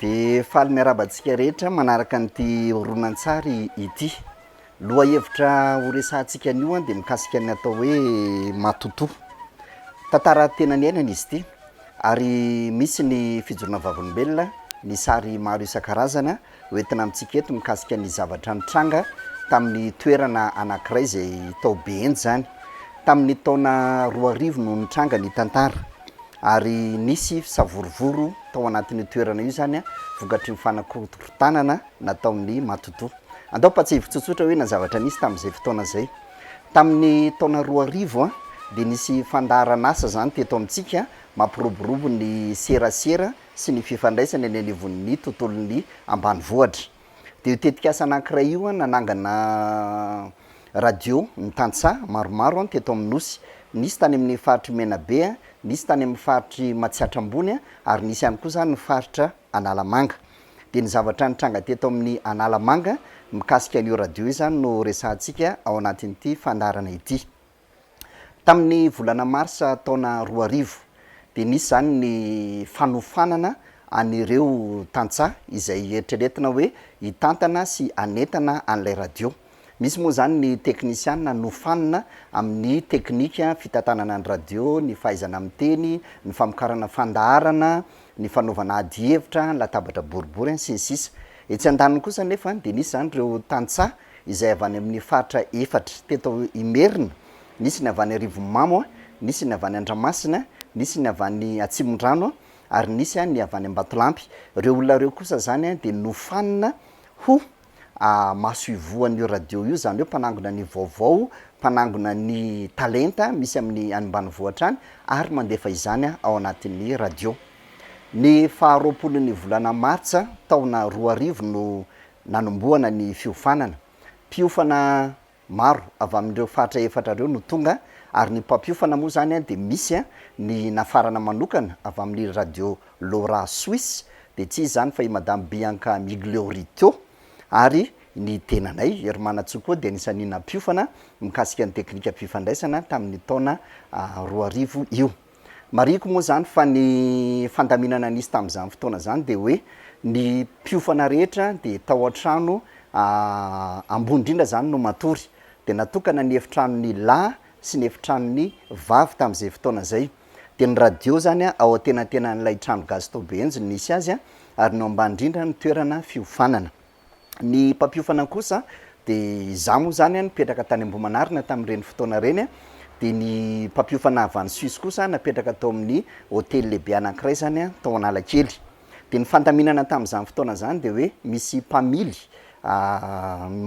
Dia faly miarahaba antsika rehetra manaraka an'ity horonantsary ity. Lohahevitra horesahantsika anio dia mikasika ny atao hoe matotoa. Tantara tena niainana izy ity ary misy ny fijoroana vavolombelona, ny sary maro isan-karazany ho entina amintsika eto mikasika ny zavatra nitranga tamin'ny toerana anankiray izay tao Behenjy izany. Tamin'ny taona roa arivo no nitranga ny tantara. Ary nisy savorovoro tao anatin'io toerana io izany vokatry ny fanakorotanana nataon'ny matotoa. Andao ampahatsiahivo tsotsotra hoe na zavatra nisy tamin'izay fotoana izay. Tamin'ny taona roa arivo dia nisy fandaharan'asa izany teto amintsika mampiroborobo ny serasera sy ny fifandraisana eny anivon'ny tontolon'ny ambanivohitra. De io tetikasa anankiray io an, nanangana radio ny tantsaha maromaro an teto amin'ny Nosy. Nisy tany amin'ny faritr'i Menabe an, nisy tany amin'ny faritr'i Matsiatra Ambony an, ary nisy ihany koa zany ny faritra Analamanga. De ny zavatra nitranga teto amin'ny Analamanga mikasika an'io radio io zany no resahantsika ao anatin'ity fandaharana ity. Tamin'ny volana marsa taona roa arivo dia nisy izany ny fanofanana an'ireo tantsaha izay eritreretina hoe hitantana sy hanentana an'ilay radio. Misy moa izany ny teknisiana nofanina amin'ny teknika fitantanana ny radio, ny fahaizana miteny, ny famokarana fandaharana, ny fanaovana adihevitra, latabatra boribory, sy ny sisa Etsy andaniny kosa anefa dia nisy izany ireo tantsaha izay avy any amin'ny faritra efatra. Teto Imerina, nisy ny avy any Arivonimamo, nisy ny avy any Andramasina, nisy ny avy any Atsimondrano ary nisy ny avy any Ambatolampy. Ireo olona ireo kosa izany dia nofanina ho masoivohon'io radio io, izany hoe mpanangona ny vaovao, mpanangona ny talenta misy amin'ny any ambanivohitra any ary mandefa izany ao anatin'ny radio. Ny faharoapolon'ny volana martsa taona roa arivo no nanombohana ny fiofanana. Mpiofana maro avy amin'ireo faritra efatra ireo no tonga ary ny mpampiofana moa izany dia misy ny nafarana manokana avy amin'ny Radio Lora Suisse dia tsy iza izany fa i Madame Bianca Migliorito ary ny tenanay Herimanantsoa koa dia anisan'ny nampiofana mikasika ny teknikam-pifandraisana tamin'ny taona roa arivo io. Marihiko moa izany fa ny fandaminana nisy tamin'izany fotoana izany dia hoe ny mpiofana rehetra dia tao an-trano ambony indrindra izany no matory. Dia natokana ny efitranon'ny lahy sy ny efitranon'ny vavy tamin'izay fotoana izay. Dia ny radio izany ao antenantenan'ilay trano gasy tao Behenjy no nisy azy ary ny ao ambany indrindra no toerana fiofanana. Ny mpampiofana kosa dia izaho moa izany nipetraka tany Ambohimanarina tamin'ireny fotoana ireny, dia ny mpampiofana avy any Suisse kosa napetraka tao amin'ny hotely lehibe anankiray izany tao Analakely. Dia ny fandaminana tamin'izany fotoana izany dia hoe misy mpamily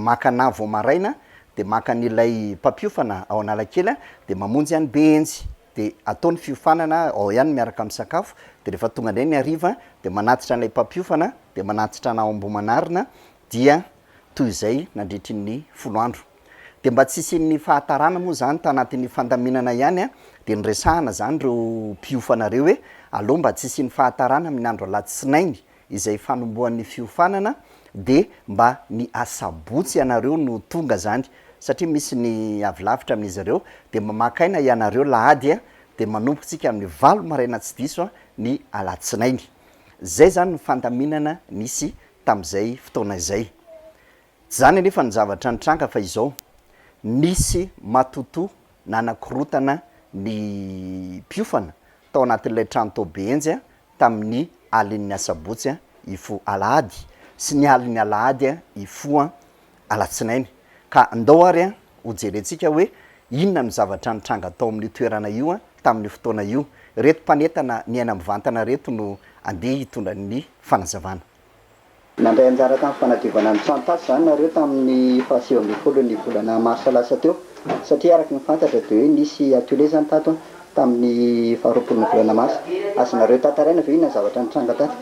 maka anà vao maraina dia maka an'ilay mpampiofana ao Analakely dia mamonjy an'i Behenjy. dia atao ny fiofanana ao ihany miaraka amin'ny sakafo, dia rehefa tonga indray ny hariva dia manatitra an'ilay mpampiofana, dia manatitra anao Ambohimanarina, dia toy izay nandritry ny folo andro. Dia mba tsy hisian'ny fahatarana moa izany tanatin'ny fandaminana ihany dia niresahana izany ireo mpiofana ireo hoe aleo mba tsy hisian'ny fahatarana amin'ny andro alatsinainy izay fanombohan'ny fiofanana de mba ny asabotsy ianareo no tonga zany satria misy ny avy lavitra amin'izy ireo de mba maka aina ianareo lahady a de manomboka tsika amin'ny valo maraina tsy diso a ny alatsinainy zay zany ny fandaminana nisy tam'zay fotoana izay Zany anefa no zavatra nitranga fa izao, nisy matoto nanakorotana ny mpiofana tao anatin'ilay trano tao Behenjy tamin'ny alin'ny asabotsy hifoha alahady sy ny alin'ny alahady hifoha alatsinainy ka ndao ary ho jerentsika hoe inona no zavatra nitranga tao amin'io toerana io tamin'io fotoana io. Reto mpanetana niaina mivantana reto no andeha hitondra ny fanazavana. Nandray anjara tamin'ny fanadiovana ny trano tasy izany nareo tamin'ny faha sivy ambin'ny folo ny volana marsa lasa teo satria araka ny fantatra dia hoe nisy atelier izany tato an, tamin'ny faha roapolo ny volana marsa. Azonareo tantaraina ve inona ny zavatra nitranga tato?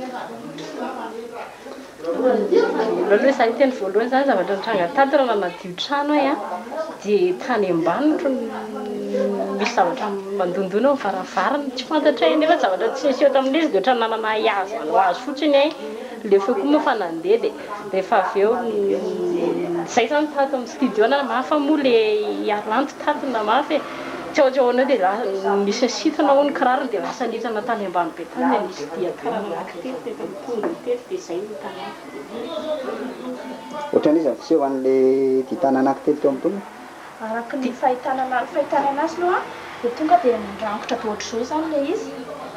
Io trano ay an dia tany ambanitro no misy zavatra mandondona eo ny varavarana tsy fantatray nefa zavatra tsy niseho tamin'izy dia ohatran'ny nanana ay azy manao azy fotsiny ay ilay feo koa moa efa nandeha dia rehefa avy eo izay izany tato amin'ny studio na mafy moa ilay haranty tato na mafy e tsy ao tsy ao anao dia nisy nisintona hono ny kirarony dia lasa nidina tany ambany be tany dia nisy dian-karana nankitety dia efa nitongony teto dia izay no hitanao. Ohatran'iza ny fiseho an'ilay Gitana anankitelo teo am-poniny? Araka ny fahitana an'azy, fahitana an'azy aloha dia tonga dia nirangitra be ohatr'izao izany ilay izy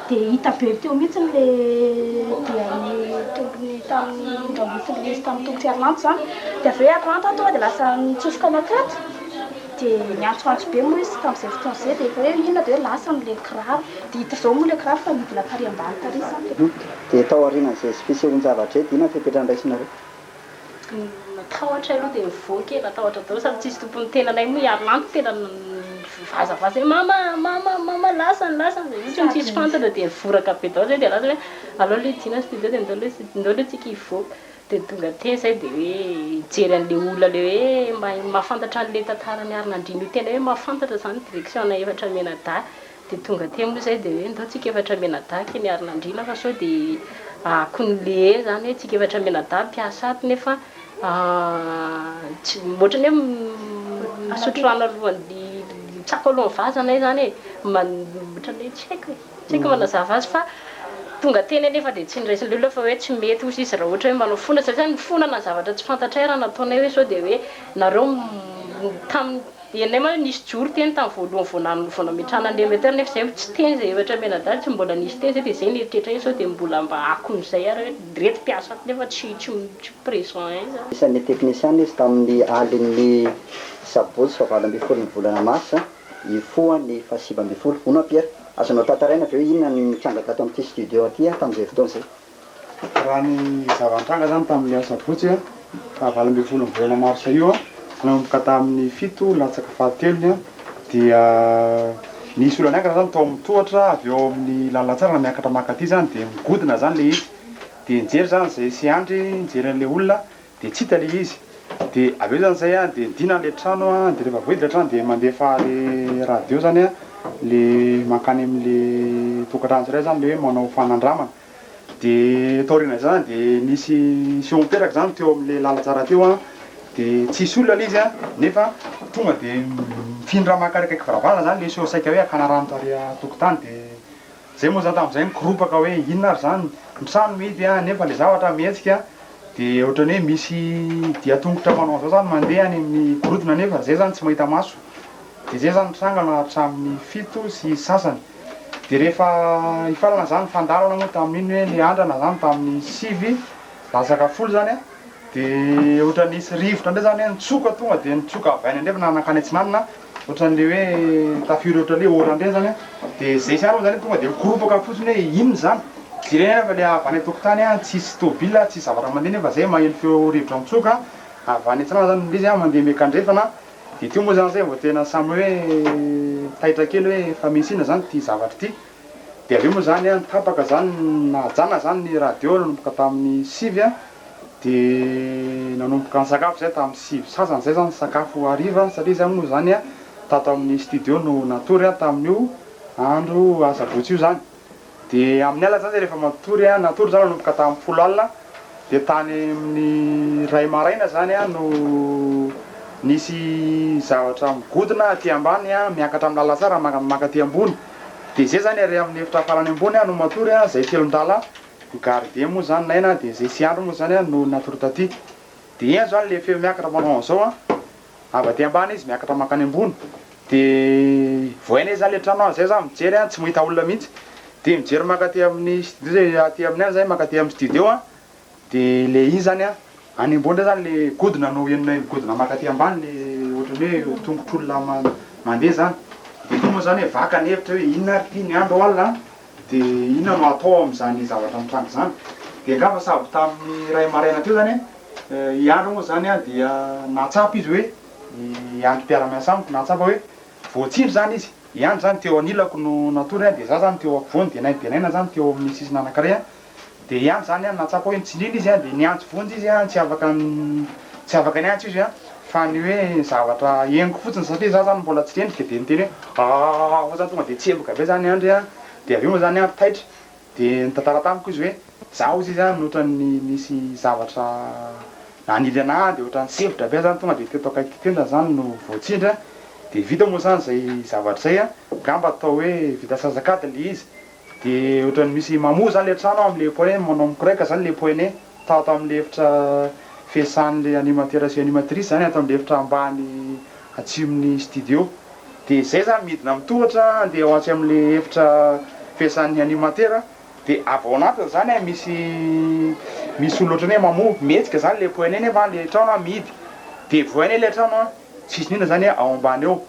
dia hita be teo mihitsy ilay dian'ny tongony tamin'ny rambon'ilay izy tamin'ny tongotr'i Arnanto izany dia avy eo i Arnanto tonga dia lasa nitsofoka nakaty dia niantsoantso be moa izy tamin'izay fotoana izay dia efa hoe inona dia hoe lasa ny ilay kiraro dia hita izao moa ilay kiraro fa nidina tary ambany tary izany ilay Dia tao aorianan'izay fisehoan-javatra eto, inona ny fepetra handraisinareo? Ny matahotra aloha dia mivoaka e, matahotra daholo samy tsisy tompony ny tenanay moa hiaro lahy ny tenany mivazavaza hoe mama mama mama lasany lasany izay mihitsy no tsisy fantatra dia mivoraka be daholo izay dia lasa hoe alao aloha hidiana ny studio dia ndao aloha ndao aloha tsika hivoaka dia tonga teny izay dia hoe hijery an'ilay olona ilay hoe mahay mahafantatra an'ilay tantara niarina andriana io tena hoe mahafantatra izany direction-na efatra omena dahy Dia tonga aty amin'io izay dia hoe ndao tsika efatra mianadahy kay miarina andriana fa sao dia akon'lee izany hoe tsika efatra mianadahy mpiasa ato nefa tsy, ohatrany hoe misotro rano alohan'ny mitsako alohan'ny vazana izany e, ohatrany hoe tsy haiko e, tsy haiko ny manazava azy fa tonga teny anefa dia tsy noraisin'ilay olona fa hoe tsy mety osa izy raha ohatra hoe manao fona satria mifonana ny zavatra tsy fantatray raha nataonay hoe sao dia hoe nareo tamin'ny Eny lay ma nisy joro teny tam voalohany vao nan vao nametrahana anle mbe tany nefa zay tsy teny zay efatra ambin'ny adala tsy mbola nisy teny zay de zay ny eritreritra iny sao de mbola mba akony zay ary hoe reto mpiasa ato nefa tsy tsy tsy present eny zany. Isan'ny teknisiana izy tamin'ny alin'ny sabotsy fahavalo ambin'ny folon'ny volana marsa hifoha ny fahasivy ambin'ny folo. Hono an-Pierre, azonao tantaraina ve hoe inona no nitranga tato amin'ity studio aty an tamin'izay fotoana izay? Raha ny zava-nitranga izany tamin'ny asabotsy faha valo ambin'ny folo ny volana marsa io nanomboka tamin'ny fito latsaka fahatelony dia nisy olona niankina izany tao amin'ny tohatra avy eo amin'ny lalantsara miakatra mankaty izany dia migodina izany ilay izy dia nijery izany izay seandry nijery an'ilay olona Dia tsy hita ilay izy. Dia avy eo izany izay an, dia nidina ilay trano an, dia rehefa voahidy ilay trano dia mandefa ilay radio izany an, ilay mankany amin'ilay tokantrano tsirairay izany ilay hoe manao fanandramana. Dia taorian'izany dia nisy seho niteraka izany teo amin'ilay lalantsara teo an, dia tsisy olona ilay izy an, nefa tonga dia mifindra mankarikaiky varavarana izany ilay seho saika hoe hakana rano tary an-tokotany dia. Zay moa zany tamin'izay mikoropaka hoe inona ary zany, ny trano mihidy a, nefa le zavatra mihetsika, de ohatrany hoe misy dian-tongotra manao an'izao zany mandeha any amin'ny gorodona nefa zay zany tsy mahita maso, de zay zany ny trangana hatramin'ny fito sy sasany, de rehefa hifarana zany fandalana moa tamin'iny hoe le andrana zany tamin'ny sivy latsaka folo zany a, de ohatrany nisy rivotra ndray zany hoe nitsoka tonga de nitsoka avy any andrefana nankany atsinanana, Ohatran'ny le hoe tafiory ohatran'ny hoe orana ireny zany an, de zay zany moa zany tonga de mikoropaka fotsiny hoe inona zany, jerena anefa fa le avy any an-tokotany an, tsisy tôbila an, tsisy zavatra mandeha nefa zay maheno feo rivotra mitsoka avy any an-tsanana zany, le izy an mandeha miakandrefana, de teo moa zany zay vao tena samy hoe taitra kely hoe fa misy inona zany ty zavatra ty. Dia avy eo moa izany an, tapaka izany, nahajana izany ny radio nanomboka tamin'ny sivy an, dia nanomboka nisakafo izahay tamin'ny sivy sy sasany izay izao ny sakafo hariva, satria izahay moa izany an, tato amin'ny studio no natory an, tamin'io andro asabotsy io izany. Dia amin'ny alina izany izahay rehefa matory an, natory izany nanomboka tamin'ny folo alina, dia tany amin'ny iray maraina izany an no nisy zavatra migodona aty ambany an, miakatra amin'ny lalatsara manka aty ambony. de zay zany ary amin'ny efitra farany ambony aho no matory a, zay telon-dala ny gardien moa zany naina de zay sy andry moa zany a no natory taty de eny zany le feo miakatra manao an'zao a, avy aty ambany izy miakatra mankany ambony de vao hainay zany le trano a, zay za mijery a tsy mahita olona mihitsy de mijery mankaty amin'ny studio zay aty amin'ny any zay mankaty amin'ny studio a. De le izy zany a, any ambony ndray zany le godona no henonay migodona mankaty ambany le ohatrany hoe tongotr'olona ma- mandeha zany, de iny moa zany hoe vaka ny hevitra hoe inona ary ty ny andro alina an, de inona no atao am'zany zavatra mitranga zany, de angamba sabo tamin'ny iray maraina teo zany e, i Andry moa zany a dia nahatsapa izy hoe, i Andry mpiara-miasa amiko nahatsapa hoe voatsindry zany izy, i Andry zany teo anilako no natory an, de za zany teo ampovoany de naindenaina zany teo amin'ny sisiny anankiray an, dia ihany izany an, nahatsapa hoe nitsindrina izy an, dia niantso vonjy izy an, tsy afaka tsy afaka niantso izy an, fa ny hoe zavatra henoko fotsiny satria za zany mbola tsy rendrika dia niteny hoe aahh fotsiny tonga dia tsemboka avy eo zany andry an, dia avy eo moa zany andry taitra dia nitantara tamiko izy hoe za ozy izy an otrany nisy zavatra nanily ana dia otrany sempotra be zany tonga dia teto akaiky teto zany zany no voatsindry an, dia vita moa zany zay zavatra zay an, ngamba atao hoe vita asasak'adiny le izy. De otrany misy mamoa zany le trano amle poe manao mikoreka zany le poene tao tamle efitra fiasanle animateur sy animatrice zany ato amle efitra ambany atsimony studio de zay zany midina mitohatra ande ho atsy amle efitra fiasany animateur de avy ao anatiny zany a misy misy olona otrany hoe mamoa mihetsika zany le poene nefa le trano a mihidy de voay anie le trano a tsisy ninona zany ao ambany ao.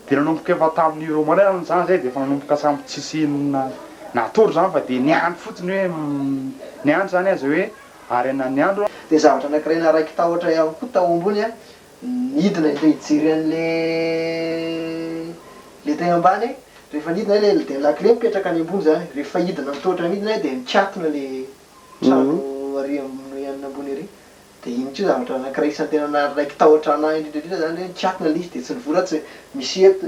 Dia nanomboka efa tamin'ny Romana aho nijanona izay dia efa nanomboka samy tsisy inona natory izany fa dia niandry fotsiny hoe niandry izany aza hoe ary anona ny andro. Dia zavatra anankiray naraiky tahotra ihany koa tao ambony an, nidina ilay hijery an'ilay ilay teny ambany an, rehefa nidina ilay dia ny lakile mipetraka any ambony izany, rehefa hidina ny tohotra midina dia nikatona ilay trano ary amin'ny ambony ary, Dia iny koa zavatra anankiray isan'ny tena naraiki-tahotra anah indrindra indrindra izany hoe nikatona ilay izy dia tsy nivory aho tsy misy eto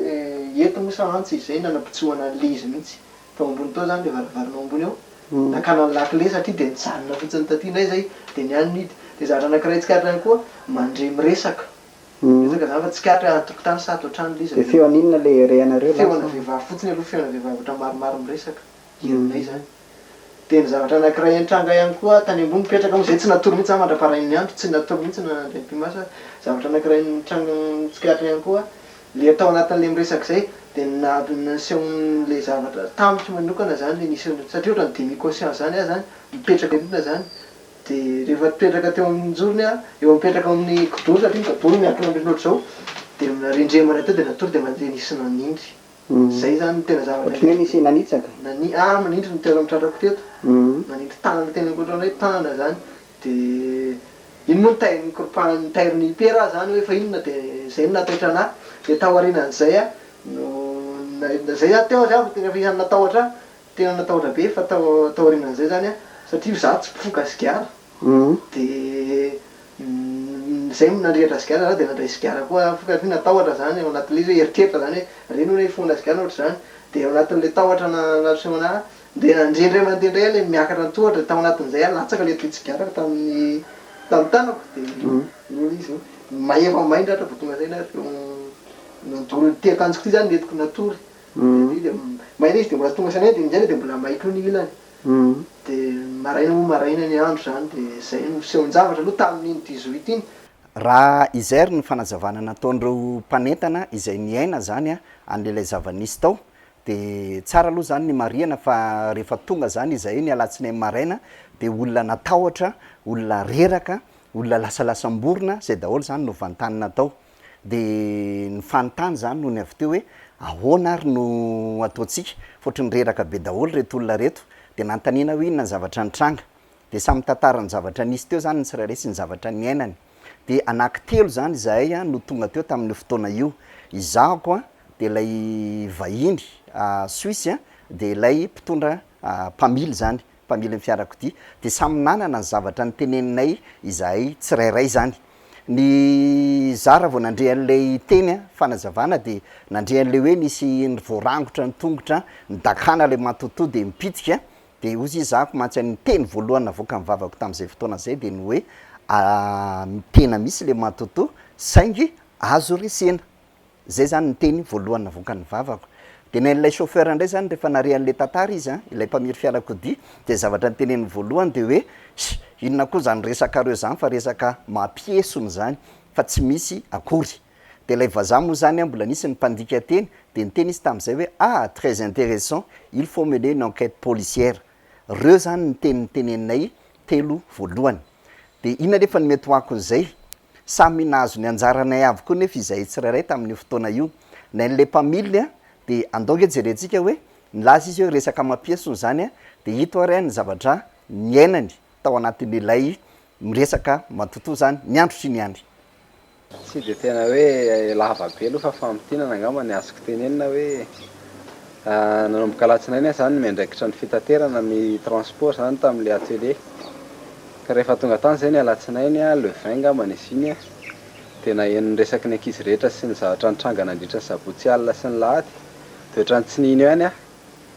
eto moa sa mantsy izay nanapitsohana an'ilay izy mihitsy tao ambony tao izany ilay varavarana ao ambony ao nakana ny lakile satria dia nijanona fotsiny taty indray izay dia ny any nidy dia zavatra anankiray tsikaritra ihany koa mandre miresaka miresaka izany fa tsikaritra hoe an-tokotany sa ato an-trano ilay izy dia feon'inona ilay rehanareo lasa? feona vehivavy fotsiny aloha feona vehivavy ohatra maromaro miresaka herinay izany Dia ny zavatra anankiray nitranga ihany koa tany ambony mipetraka moa izay tsy natory mihitsy za mandra-parain'ny andro, tsy natory mihitsy na nandray ny primas aza, zavatra anankiray nitranga nitsikaritra ihany koa le tao anatin'ilay miresaka izay dia ny naha nasehon'ilay zavatra tamiko manokana izany le nisy an satria ohatran'ny demi conscient izany aho izany mipetraka eo foana izany dia rehefa nipetraka teo amin'ny jorony aho, eo mipetraka eo amin'ny kidoro satria ny kidoro miankina ambony ohatr'izao dia rendremana teo dia natory dia mandeha nisy nanindry. Zay zany no tena zavatra indrindra. Ohatran'ny hoe nisy nanitsaka. Nani- ah, manindry ny toeran'ny tratrako teto. Nanindry tanana teny ankoatra ny hoe tana zany. Dia iny moa ny tairiny koropahan- ny tairiny hipera aho zany hoe fa inona dia zay no nataitra an'ahy. Dia taorianan'izay aho no, na- zay zany teo aho zay vao tena isan'ny natahotra ahy. Tena natahotra be fa tao taorianan'izay izany an, satria izaho tsy mpifoka sigara, dia izay no nandrehitra sigara izaho dia nandray sigara koa aho, fokatra hoe natahotra izany ao anatin'ilay izy hoe eritreritra izany hoe re ny olona hifohana sigara na ohatr'izany, dia ao anatin'ilay tahotra na nasehona ahy dia nandre indray mandeha indray aho ilay miakatra an-tohatra, tao anatin'izay aho latsaka ilay toy tsigarako tamin'ny tamin'ny tanako dia noho izy hoe mahefa main-drahatra vao tonga saina ary nandoro ity akanjoko ity izany no entiko natory. Hum. May le izy de mbola tonga sanay de minjaina de mbola may koa ny ilany. De maraina moa maraina ny andro zany de zay no fisehon-javatra aloha tamin'iny dix-huit iny. Raha izay ary ny fanazavana nataon'ireo mpanentana izay niaina zany an'ilay zava-nisy tao de tsara aloha zany ny marihana fa rehefa tonga zany izahay ny alatsinainy maraina de olona natahotra, olona reraka, olona lasalasam-borona, zay daholo zany no vantanina tao. dia ny fanontany izany no ny avy teo hoe ahoana ary no ataontsika fa ohatran'ny reraka be daholo ireto olona ireto, dia nanontaniana hoe inona ny zavatra nitranga, dia samy mitantara ny zavatra nisy teo izany ny tsirairay sy ny zavatra niainany, dia anankitelo izany izahay no tonga teo tamin'io fotoana io, izahako an, dia ilay vahiny suisse an, dia ilay mpitondra mpamily izany mpamily ny fiarakodia dia samy nanana ny zavatra niteneninay izahay tsirairay izany. Ny zara vao nandre an'ilay teny an, fanazavana dia nandre an'ilay hoe nisy ny voarangotra ny tongotra an, nidakana ilay matotoa dia nipitika an, dia hozy izy zahako mantsy an, ny teny voalohany navoakan'ny vavako tamin'izay fotoana izay dia ny hoe, ah, tena misy ilay matotoa, saingy azo resena. Zay zany ny teny voalohany navoakan'ny vavako. Dia nen'ilay chauffeur indray zany rehefa nare an'ilay tantara izy an, ilay mpamily fiarakodia, dia zavatra noteneniny voalohany dia hoe, Ssy! inona koa zany resakareo zany fa resaka mampiesona zany fa tsy misy akory. Dia ilay vazaha moa zany an mbola nisy ny mpandika teny dia niteny izy tamin'izay hoe, ah! très intéressant, il faut mener une enquête policière. Reo zany ny teny niteneninay telo voalohany. Dia inona nefa ny mety ho akon'izay? Samy nahazo ny anjaranay avokoa nefa izahay tsirairay tamin'io fotoana io. Nay an'ilay mpamily dia andao ange jerentsika hoe nilaza izy hoe resaka amam-piesony izany dia ito ary ny zavatra niainany tao anatin'ilay miresaka matotoa izany ny andro sy ny andry. Tsy dia tena hoe lava be aloha fa famintinana angamba ny azoko tenenina hoe Nanomboka alatsinainy aho zany miandraikitra ny fitaterana ny transport zany tamle atelier ka rehefa tonga tany zay ny alatsinainy le vingt ngambany izy iny a de naheno ny resaky ny ankizy rehetra sy ny zavatra nitranga nandritra ny sabotsy alina sy ny lahady de otran'ny tsy nino ihany aho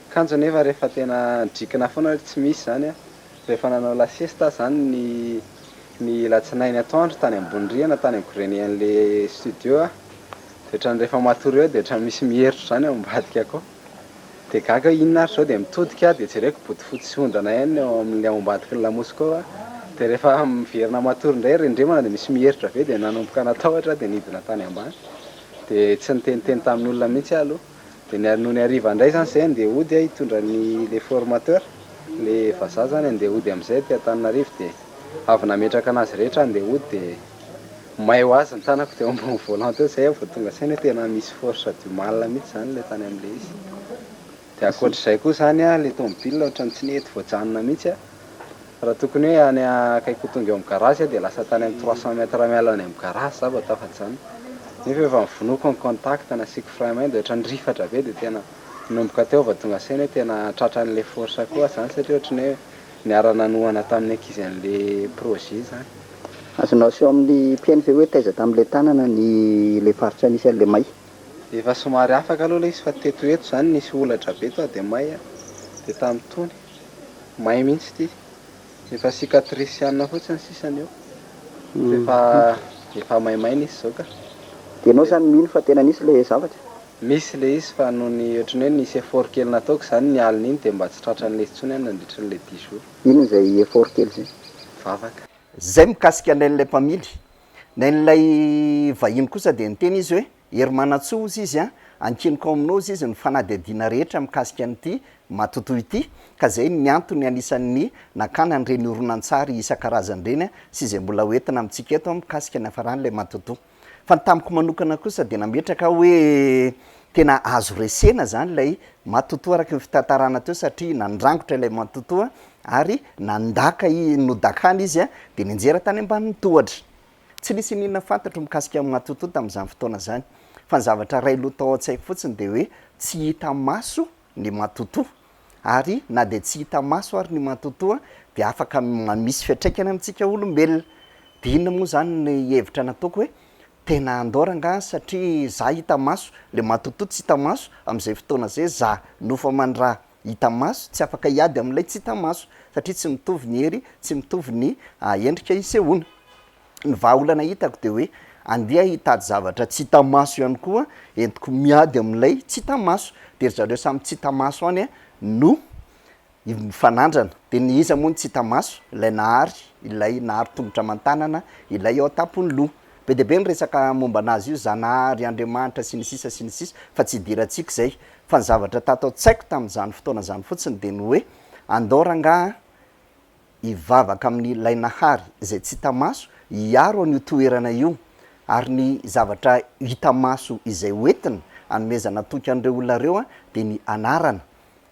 kanjo nefa rehefa tena nidrikina foana hoe tsy misy zany a Rehefa nanao la siesta aho izany ny ny alatsinainy atoandro tany ambony rihana tany amin'ny grenier-n'ilay studio aho dia ohatran'ny rehefa matory eo dia ohatran'ny misy mieritro izany ao ambadika ko dia gaga aho inona ary izao dia mitodika aho dia jereko bodofotsy sy ondana ihany ny ao amin'ny ao ambadiky ny lamosiko ao an dia rehefa miverina matory indray rendremana dia misy mieritro avy eo dia nanomboka natahotra aho dia nidina tany ambany dia tsy niteniteny tamin'olona mihintsy aho aloha Dia ny nony hariva indray izany izay handeha hody aho hitondra ny ilay formateur, ilay vazaha izany handeha hody amin'izay aty Antananarivo dia avy nametraka an'azy rehetra handeha hody dia may ho azy ny tanako teo ambony volant teo, izay aho vao tonga saina hoe tena misy force du mal mihintsy izany ilay tany amin'ilay izy. Dia ankoatr'izay koa izany an, ilay tomobil ohatran'ny tsy nety voajanona mihintsy an. Raha tokony hoe any akaiky ho tonga eo amin'ny garage aho dia lasa tany amin'ny trois cents mètres miala ny amin'ny garage za vao tafaditra izany. Nefa efa novonoiko ny contact, nasiako frein main dia ohatran'ny nirifatra be dia tena nanomboka teo vao tonga saina hoe tena tratran'ilay force koa aho izany satria ohatran'ny hoe niara-nanohana tamin'ny ankizy an'ilay projet izany. Azonao aseho amin'ny mpihaino ve hoe taiza tamin'ilay tanana ny ilay faritra nisy an'ilay may? Efa somary afaka aloha ilay izy fa teto ho eto izany nisy olatra be sao dia may dia tamin'itony may mihitsy ity efa cicatrice ihany fotsiny sisa ny eo fa efa efa maimaina izy izao ka. Dia ianao izany mino fa tena nisy ilay zavatra? Misy ilay izy fa noho ny ohatry ny hoe nisy effort kely nataoko izany ny alina iny dia mba tsy tratra an'ilay izy intsony aho nandritra an'ilay dix jours. Inona izay effort kely izay? Vavaka. Zay mikasika an'ilay mpamily Nen'ilay vahiny kosa dia niteny izy hoe, Herimanantsoa, hozy izy an, ankiniko aminao hozy izy ny fanadihadiana rehetra mikasika an'ity matotoa ity, ka izay ny antony anisan'ny nakana an'ireny horonantsary isan-karazany ireny sy izay mbola ho entina amintsika eto an mikasika ny hafaran'ilay matotoa. Fa ny tamiko manokana kosa dia nametraka aho hoe tena azo resena izany ilay matotoa araka ny fitantarana teo satria nandrangotra ilay matotoa Ary nandaka, nodakana izy dia nianjera tany ambanin'ny tohatra. Tsy nisy iniana fantatro mikasika an'i Matoto tamin'izany fotoana izany, fa ny zavatra iray lo tao an-tsaiko fotsiny dia hoe tsy hita maso ny Matoto. Ary na dia tsy hita maso ary ny Matoto dia afaka misy fiantraikany amintsika olombelona. Dia inona moa izany ny hevitra nataoko hoe tena handao rangahy satria izaho hita maso, ilay Matoto tsy hita maso, amin'izay fotoana izay izaho nofo aman-draha. hita maso, tsy afaka hiady amin'ilay tsy hita maso, satria tsy mitovy ny hery, tsy mitovy ny endrika isehoana. Ny vahaolana hitako dia hoe andeha hitady zavatra tsy hita maso ihany koa entiko miady amin'ilay tsy hita maso, dia ry zareo samy tsy hita maso any no mifanandrana, dia ny iza moa no tsy hita maso? Ilay nahary, ilay nahary tongotra aman-tanana, ilay ao an-tampon'ny loha. Be dia be ny resaka momba an'azy io, Zanahary, Andriamanitra, sy ny sisa sy ny sisa, fa tsy idirantsika izay. Fa ny zavatra tato an-tsaiko tamin'izany fotoana izany fotsiny dia ny hoe, andao rangahy an, hivavaka amin'Ilay Nahary izay tsy hita maso hiaro an'io toerana io, ary ny zavatra hita maso izay hoentina hanomezana toky an'ireo olona ireo an, dia ny Anarana.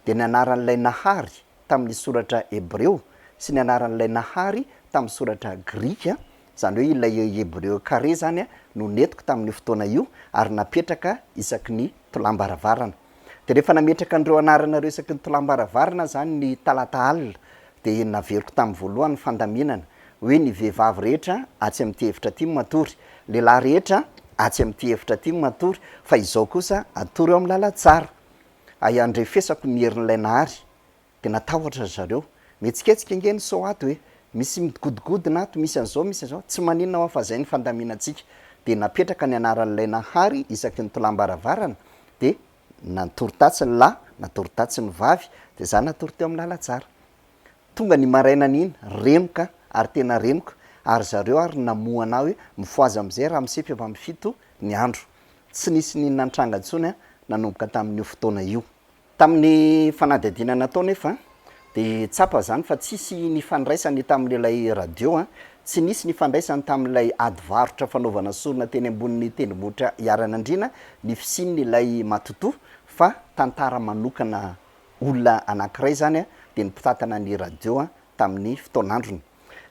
Dia ny Anaran'Ilay Nahary tamin'ny Soratra Hebreo, sy ny Anaran'Ilay Nahary tamin'ny Soratra Grika, Izany hoe ilay Hebreo carré izany no nentiko tamin'io fotoana io ary napetraka isaky ny tolàm-baravarana. Dia rehefa nametraka an'ireo anarana ireo isaky ny tolàm-baravarana aho izany ny talata alina dia naveriko tamin'ny voalohany ny fandaminana hoe ny vehivavy rehetra atsy amin'ity efitra ity matory, lehilahy rehetra atsy amin'ity efitra ity matory fa izao kosa atory eo amin'ny lalantsara. Ahiandrefesako ny herin'ilay Nahary. Dia natahotra ry zareo. Mihetsiketsika ange ny sao ato e! Misy migodogodona ato, misy an'izao, misy an'izao. Tsy maninona hoa fa izay ny fandaminantsika. Dia napetraka ny anaran'ilay Nahary isaky ny tolàm-baravarana, dia natory tatsy ny lahy, natory tatsy ny vavy, dia izaho natory teo amin'ny lalantsara. Tonga ny marainana iny, renoka ary tena renoka, ary zareo ary namohana ahy hoe, Mifohaza amin'izay ramosefy efa amin'ny fito ny andro. Tsy nisy n'inona nitranga intsony nanomboka tamin'io fotoana io. Tamin'ny fanadihadiana natao nefa dia tsapa izany fa tsisy nifandraisany tamin'ilay radio, tsy nisy nifandraisany tamin'ilay ady varotra fanaovana sorona teny ambonin'ny tendrombohitra Iharianandriana ny fisian'ilay matotoa fa tantara manokana olona anankiray izany dia ny mpitantana ny radio tamin'ny fotoan'androny.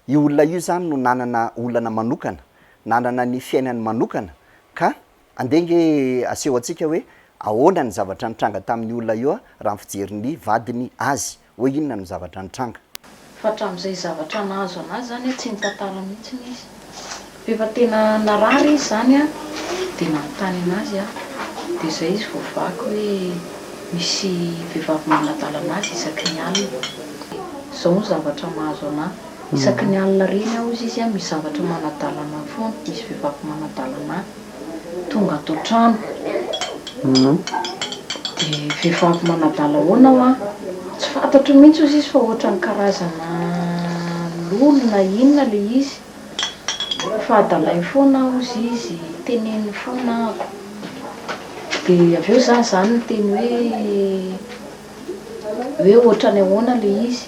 Io olona io izany no nanana olana manokana, nanana ny fiainany manokana ka Andeha ange aseho antsika hoe ahoana ny zavatra nitranga tamin'io olona io raha ny fijerin'ny vadiny azy. Hoe inona no zavatra nitranga. Fa hatramin'izay zavatra nahazo anazy izany tsy nitantara mihitsy izy. Rehefa tena narary izy izany dia nanontany anazy aho. Dia izay izy vao vaky hoe misy vehivavy manadala anazy isaky ny alina. Izao ny zavatra mahazo anahy. Isaky ny alina reny aho hozy izy misy zavatra manadala anah foana, misy vehivavy manadala anah, tonga ato an-trano dia vehivavy manadala ahoana hoa? tsy fantatro mihitsy hozy izy fa ohatran'ny karazana lolo na inona ilay izy fa adalainy foana aho hozy izy, teneniny foana ahako, dia avy eo za zany niteny hoe hoe ohatran'ny ahoana ilay izy?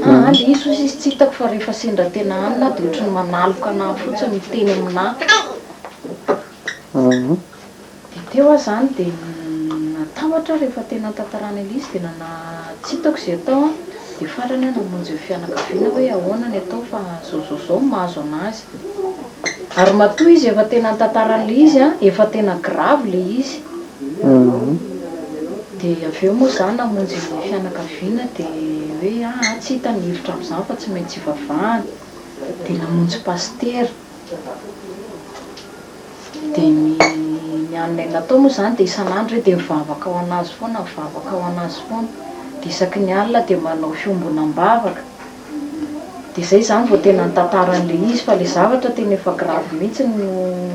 Aa le izy hoy izy tsy hitako fa rehefa sendra tena hanina aho dia ohatry ny manaloka anà fotsiny miteny aminà Aa. Dia teo aho izany dia natahotra aho rehefa tena nitantarana ilay izy dia nana tsy hitako izay atao an, dia farany aho namonjy ny fianakaviana hoe ahoana ny atao fa zao zao zao ny mahazo an'azy. Ary matoa izy efa tena nitantarana ilay izy an, efa tena grave ilay izy. Dia avy eo moa izaho namonjy ny fianakaviana dia hoe aa tsy hita ny hevitra amin'izany fa tsy maintsy ivavahana. Dia namonjy pasitera. Dia ny ny anay natao moa izany dia isan'andro hoe dia mivavaka ho an'azy foana mivavaka ho an'azy foana. Dia isaky ny alina dia manao fiombonam-bavaka. de zay zany vao tena nitantara an'le izy fa le zavatra tena efa gravy mihitsy no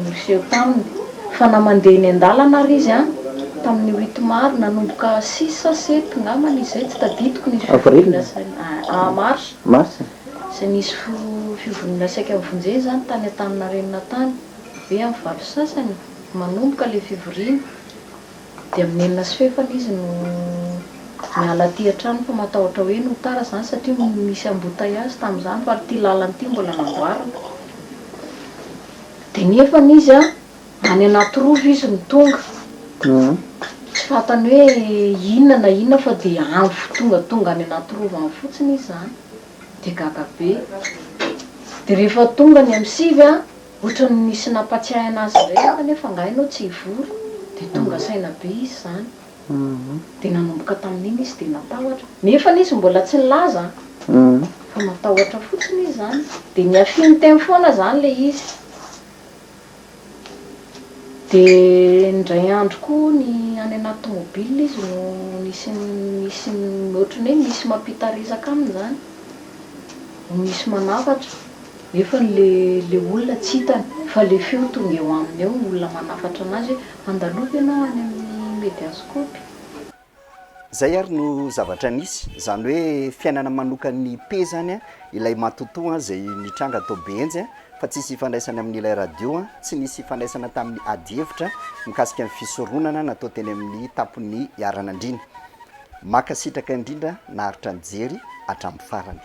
niseho taminy fa na mandeha eny an-dalana ary izy an! tamin'ny huit mars nanomboka six sa sept ngambany izy zay tsy tadidiko nisy fivoriana saika mars zay nisy fivoriana saika nivonjena zany tany Antaninarenina tany ve amin'ny valo sy sasany manomboka le fivoriana Dia amin'ny enina sy fefany izy no niala aty an-trano fa matahotra hoe no tara izany satria misy embouteillage tamin'izany fa ity lalana ity mbola namboarina. Dia nefa izy any Anatirova izy no tonga. Tsy fantany hoe inona na inona fa dia any fo tonga tonga any Anatirova any fotsiny izy izany. Dia gaga be. Dia rehefa tonga ny amin'ny sivy Ohatran'ny nisy nampatsiahy anazy indray aho kanefa angaha ianao tsy hivory? Dia tonga saina be izy izany. Dia nanomboka tamin'iny izy dia natahotra. Nefany izy mbola tsy nilaza fa matahotra fotsiny izy izany. Dia nihafiany teny foana izany ilay izy. Dia indray andro koa ny any anaty tomobile izy no nisy nisy ohatran'ny hoe misy mampitarizaka aminy izany. Misy manafatra. Nefany le le olona tsy hitany fa le feo tonga eo aminy eo ny olona manafatra anazy hoe andaloby ianao any amin'ny mediascope. Zay ary no zavatra nisy, zany hoe fiainana manokan'ny Pe zany an, ilay matotoa an, zay nitranga tao Behenjy an, fa tsisy ifandraisany amin'ilay radio an, tsy nisy ifandraisana tamin'ny ady hevitra mikasika ny fisoronana natao teny amin'ny tampon'ny iharan'andriana. Mankasitraka indrindra naharitra nijery hatramin'ny farany.